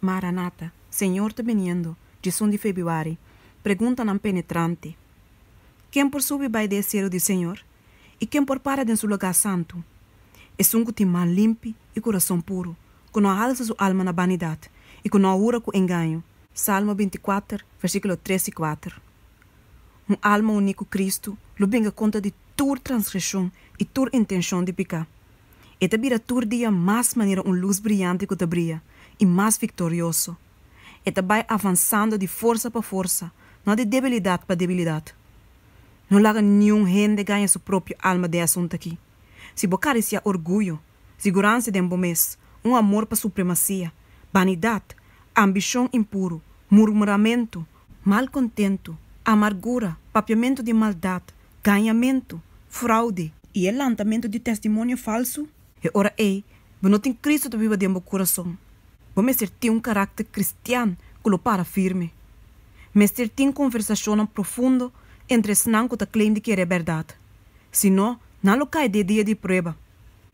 Maranata, Señor ta biniendo, Djesun di Febiuari, Preguntanan penetrante, Ken por subi bai di e selu di Señor? I ken por para den su lugá santu? Esun ku tin man limpi i kurason puru, ku no a halsa su alma na banidat i ku no a hura ku engaño. Salmo binti-kuater, versíkulo tres i kuater Un alma uní ku Kristu lo binga konta di tur transgresion i tur intenshon di piká. E ta bira tur dia mas manera un lus briante ku ta bria, i mas viktorioso. E ta bai avansando di forsa pa forsa, no di debilidat pa debilidat. No laga niun hende gaña su propio alma den asuntu akí. Si bo karisiá orguyo, siguransa den bo mes, un amor pa supremasia, banidat, ambishon impuru, murmuramentu, mal kontentu, amargura, papiamentu di maldat, gañamentu, fraude. I e lantamentu di testimonio falsu. E ora ei, bo no tin Kristu ta biba den bo kurason. Bo mester tin un karakter kristian ku lo para firme. Mester tin konversashonnan profundo entre esnan ku ta claim di kere e bèrdat. Si no, nan lo kai di e dia di prueba.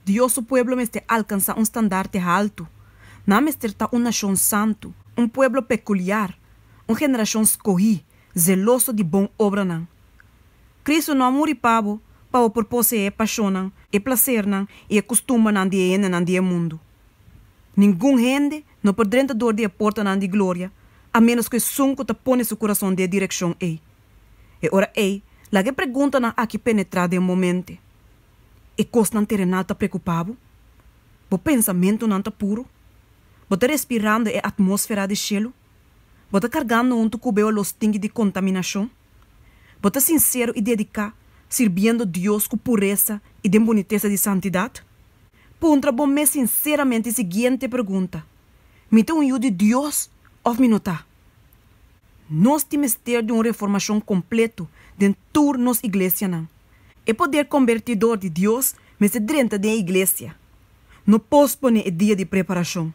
Dios su pueblo mester alkansá un standarte haltu. Nan mester ta un nashon santu, un pueblo pekuliar, un generashon skohí, zeloso di bon obranan. Cristo no a muri pa bo pa bo por poseé e pashonnan, e plasernan i e kustumbernan di e hendenan di e mundu. Ningun hende no por drenta dor di e portanan di gloria a ménos ku esun ku ta pone su kurason den e direkshon ei. E ora ei laga e preguntanan aki penetrá den bo mente, E kosnan terenal ta preokupá bo? Bo pensamentunan ta puru? Bo ta respirando e atmósfera di shelu? Bo ta kargando huntu ku beo los tingui di kontaminashon? Bo ta sinsero i dediká sirbiendo Dios ku puresa i den bunitesa di santidat? Puntra bo mes sinseramente e siguiente pregunta, Mi ta un yu di Dios òf mi no ta? Nos tin mester di un reformashon kompletu den tur nos iglesianan. E poder kombertidor di Dios mester drenta den e iglesia. No posponé e dia di preparashon.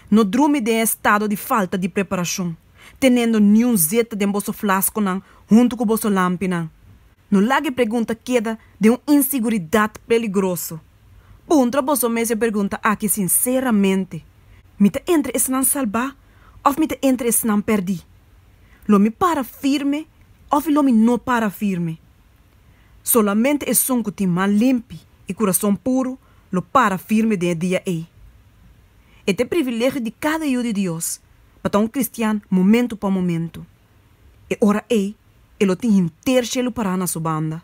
No drumi den e estado di falta di preparashon, tenendo niun zeta den boso flaskonan huntu ku boso lampinan. No laga e pregunta keda den un inseguridat peligroso. Puntra boso mes e pregunta aki sinseramente, Mi ta entre esnan salbá òf mi ta entre esnan pèrdí? Lo mi para firme òf lo mi no para firme? Solamente esun ku tin man limpi i kurason puru lo para firme den e dia ei. E ta e privilegio di kada yu di Dios pa ta un kristian momentu pa momentu. E ora ei e lo tin henter shelu pará na su banda.